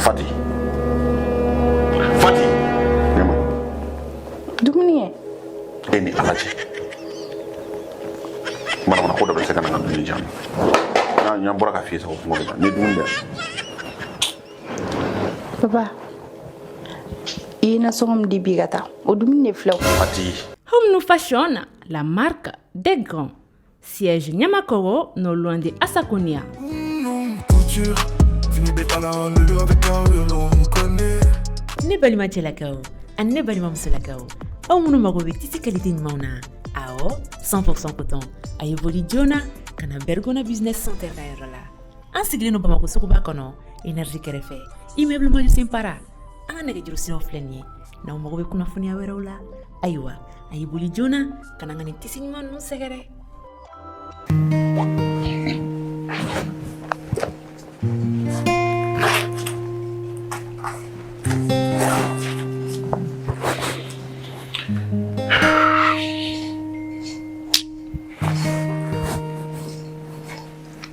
Fati. Fati. Ne ma. Dumuni kɛ. E ni Ala cɛ. Manamana ko dabila se ka na n ka dumuni di yan. N'an bɔra ka f'i ye sa ko kɔngɔ bɛ n na. Ni dumuni bɛ yan. Baba, i ye nasɔngɔ min di bi ka taa, o dumuni de filɛ o. Fati. Home New Fashion, la marque des grands. Siège Niamakoro, non loin de Asakonia. Ne balima cɛlakaw ani ne balima musolakaw aw minnu mago bɛ tisi kalite ɲumanw na awɔ 100% coton a ye boli joona ka na Bergona business center ka yɔrɔ la an sigilen don bamakɔ suguba kɔnɔ energie kɛrɛfɛ immeuble Madiou Simpara an ka nɛgɛjuru siraw filɛ nin ye n'aw mago bɛ kunnafoniya wɛrɛw la ayiwa a y'i boli joona ka na ka nin tisi ɲuman ninnu sɛgɛrɛ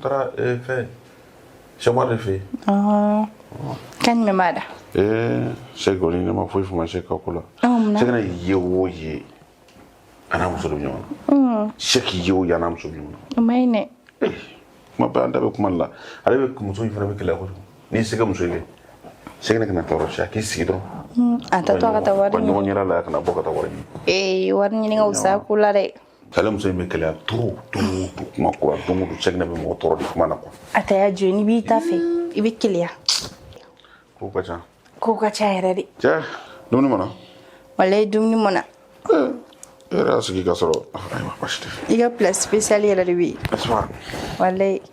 Tra eh, fɛ sɛma de fɛ ka ɲuman da se kɔni ne ma foyi faamu se ka ko la se kana ye o ye a n'a muso bɛ ɲɔgɔn na se k'i ye o ye a n'a muso bɛ ɲɔgɔn na man ɲi dɛ kuma bɛ an da bɛ kuma la ale bɛ muso in fana bɛ kɛlɛ kojugu n'i se ka muso ye se kana kana tɔɔrɔ siya k'i sigi dɔrɔn a t'a to ka taa wari ɲɔgɔn yɛrɛ la kana bɔ ka taa wari ɲini ee wari ɲini ka wusa ko la dɛ Ale muso in bɛ keleya to to to kuma kura don don cɛ bɛ mɔgɔ tɔɔrɔ de kuma na kuwa a ta y'a jɔ n'i b'i ta fɛ i bɛ keleya ko ka ca ko ka ca yɛrɛ de cɛ dumuni ma na walayi dumuni ma na e yɛrɛ y'a sigi ka sɔrɔ ayiwa baasi tɛ i ka place spéciale yɛrɛ de bɛ yen wala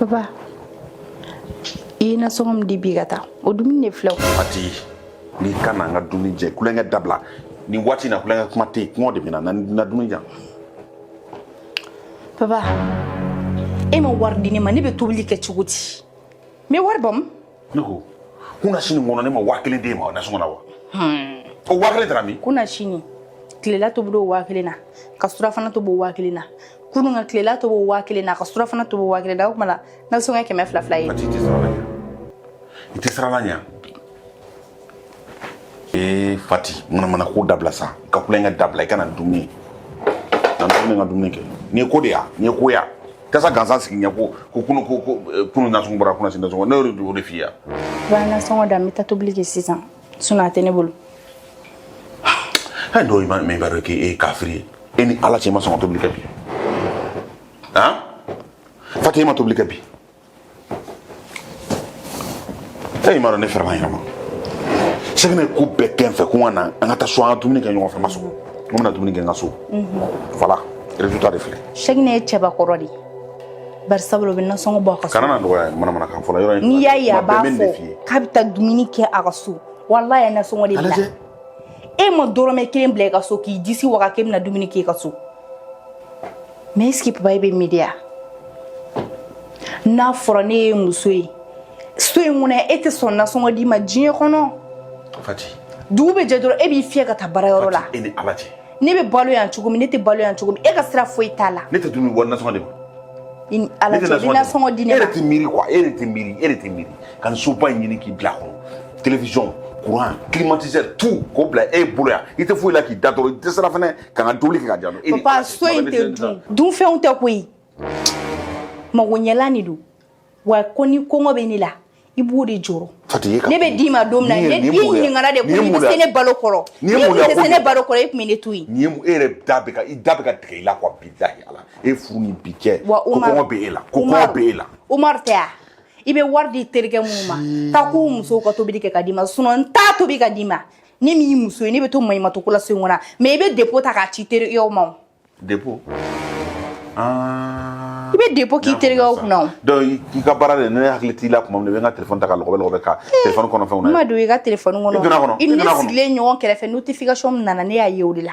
Baba, i ye nasɔngɔ min di bi ka taa o dumuni de filɛ o. Fati, n'i ka na n ka dumuni di yan kulonkɛ dabila nin waati in na kulonkɛ kuma tɛ yen kɔngɔ de bɛ n na na dumuni di yan. Baba, e ma wari di ne ma ne bɛ tobili kɛ cogo di? N bɛ wari bɔ min? ne ko kunasini kɔnɔ ne ma waa kelen d'e ma nasɔngɔ la wa o waa kelen taara min kunasini tilela tobi o waa kelen na ka surafana tobi o waa kelen na kunun ka tilela tobi o waa kelen na ka surafana tobi o waa kelen na o tuma la nasɔngɔ ye kɛmɛ fila fila ye i tɛ siran Ala ɲɛ ee fati manamana ko dabila sa ka kulekan dabila i ka na dumuni na dumuni n ka dumuni kɛ n'i ye ko de ya n'i ye ko ya tasa gansan sigi n ɲɛ ko ko kunu ko ko eh, kunu nasɔngɔ bɔra kunasini nasɔngɔ ne y'o de o de f'i ye b'a nasɔngɔ da n bɛ taa tobili kɛ sisan sinon a tɛ ne bolo hali dɔw ma mɛ i b'a dɔn k'e ye kafiri ye e ni ala cɛ i ma sɔn ka tobili kɛ bi han fati e ma tobili kɛ bi ee i m'a dɔn ne fɛrɛla n yɛrɛ ma Sɛgɛnɛ ko bɛɛ kɛ n fɛ ko n ka na an ka taa so an ka dumuni kɛ ɲɔgɔn fɛ n ma sɔn n bɛna dumuni kɛ n ka so voilà résultat de filɛ Sɛgɛnɛ ye cɛbakɔrɔ de ye bari sabula o bɛ nasɔngɔ bɔ a ka so kana na dɔgɔya manamanakan fɔlɔ yɔrɔ in n'i y'a ye a b'a bɛ nin de fɔ f'i ye k'a bɛ taa dumuni kɛ a ka so walayi a ye nasɔngɔ de bila lajɛ e ma dɔrɔmɛ kelen bila i ka so k'i disi waga k'e bɛna dumuni kɛ i ka so mais est-ce que papa e bɛ miiri wa n'a fɔra ne ye muso ye so in kɔnɔ e tɛ sɔn nasɔngɔ di n ma diɲɛ kɔnɔ fati dugu bɛ jɛ dɔrɔn e b'i fiyɛ ka taa baarayɔrɔ la e ni ala cɛ ne bɛ balo yan cogo min ne tɛ balo yan cogo min e ka sira foyi t'a la ne tɛ dumuni bɔ nasɔngɔ de ma i ni ala cɛ ni nasɔngɔ di ne ma e de tɛ miiri quoi e de tɛ miiri e de tɛ miiri ka nin soba in ɲini k'i bila a kɔnɔ télévision courant climatiseur tout k'o bila e bolo yan i tɛ foyi la k'i da dɔrɔn i dɛsɛra fɛnɛ ka n ka dumuni kɛ ka diya e papa so in tɛ dun dunfɛnw tɛ koyi magoɲɛlan de don wa ko ni kɔngɔ bɛ ne la i b'o de jɔrɔ ne bɛ d'i ma don min na ne d'i ɲininkara de ko i bɛ se ne balo kɔrɔ n'e tun tɛ se ne balo kɔrɔ e tun bɛ ne to yen e yɛrɛ da bɛ ka i da bɛ ka tigɛ i la quoi bilahi ala e furu ni bi cɛ ko kɔngɔ bɛ e la ko kɔngɔ bɛ e la Umaru tɛ wa i bɛ wari di terikɛ minnu ma taa k'u musow ka tobili kɛ ka d'i ma sinon n t'a tobi ka d'i ma ne min y'i muso ye ne bɛ to maɲumatɔ ko la so in kɔnɔ mais i bɛ dépôt ta k'a ci terikɛw ma o dépôt Ah. i bɛ dépôt k'i terikɛw kunna o donc i ka baara de ne hakili t'i la tuma min na i bɛ n ka telefɔni ta ka lɔgɔbɛ lɔgɔbɛ ka telefɔni kɔnɔ fɛnw na n ma don i ka telefɔni kɔnɔ I donna kɔnɔ, i i ni ne donna kɔnɔ. sigilen ɲɔgɔn kɛrɛfɛ notification min nana ne y'a ye o de la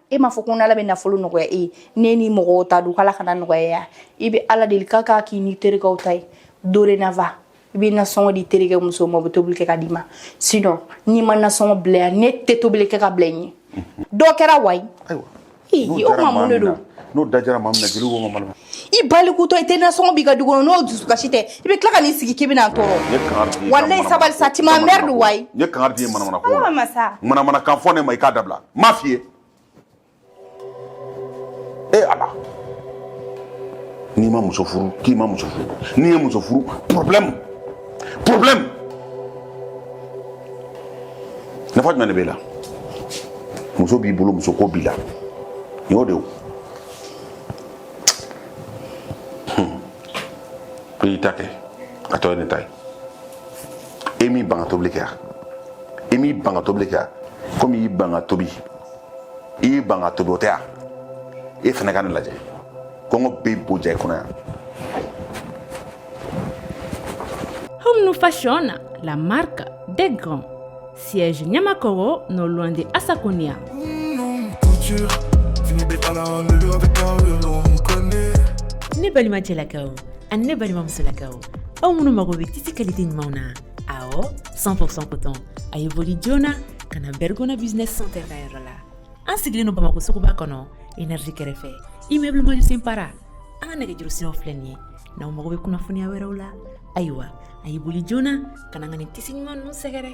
e m'a fɔ ko n'ala bɛ nafolo nɔgɔya e ye ne ni mɔgɔw ta don k'ala kana nɔgɔya ya i bɛ ala deli k'a k'a k'i ni terikɛw ta ye dorénavant i bɛ nasɔngɔ di terikɛ muso ma o bɛ tobili kɛ ka d'i ma sinon n'i ma nasɔngɔ bila yan ne tɛ tobili kɛ ka bila i ɲɛ dɔ kɛra wayi o ma mun de don n'o dajara maa min na jeliw ko ma i balikutɔ i tɛ nasɔngɔ b'i ka du kɔnɔ n'o dusukasi tɛ i bɛ tila ka n'i sigi k'i bɛna n tɔɔrɔ N ye kangari d'i ye ka walayi mana- sabali sa tu m'emmerdes wayi N ye kangari d'i ye manamana ko Awa, masa. manamana kan fɔ ne ma i k'a dabila n m'a f'i ye e ala n'i ma muso furu k'i ma muso furu n'i ye muso furu problème problème nafa jumɛn de b'e la muso b'i bolo muso ko b'i la nin y'o de ye o. ko i ta kɛ a tɔ ye ne ta ye e m'i ban ka tobili kɛ yan i m'i ban ka tobili kɛ yan komi i y'i ban ka tobi i y'i ban ka tobi o tɛ yan e fana ka ne lajɛ kɔngɔ bɛ bo ja i kɔnɔ yan Home nous fashion la marque des grands. Siège Niamakoro, non loin de Asakonia. Ne balima cɛlakaw ani ne balimamusolakaw aw minnu mago bɛ tisi kalite ɲumanw na awɔ 100% coton a ye boli joona ka na bergona business center ka yɔrɔ la an sigilen don bamakɔ suguba kɔnɔ energie kɛrɛfɛ immeuble Mandiou Simpara an ka nɛgɛjuru siraw filɛ nin ye n'aw mago bɛ kunnafoniya wɛrɛw la ayiwa a y'i boli joona ka na n ka nin tisi ɲuman ninnu sɛgɛrɛ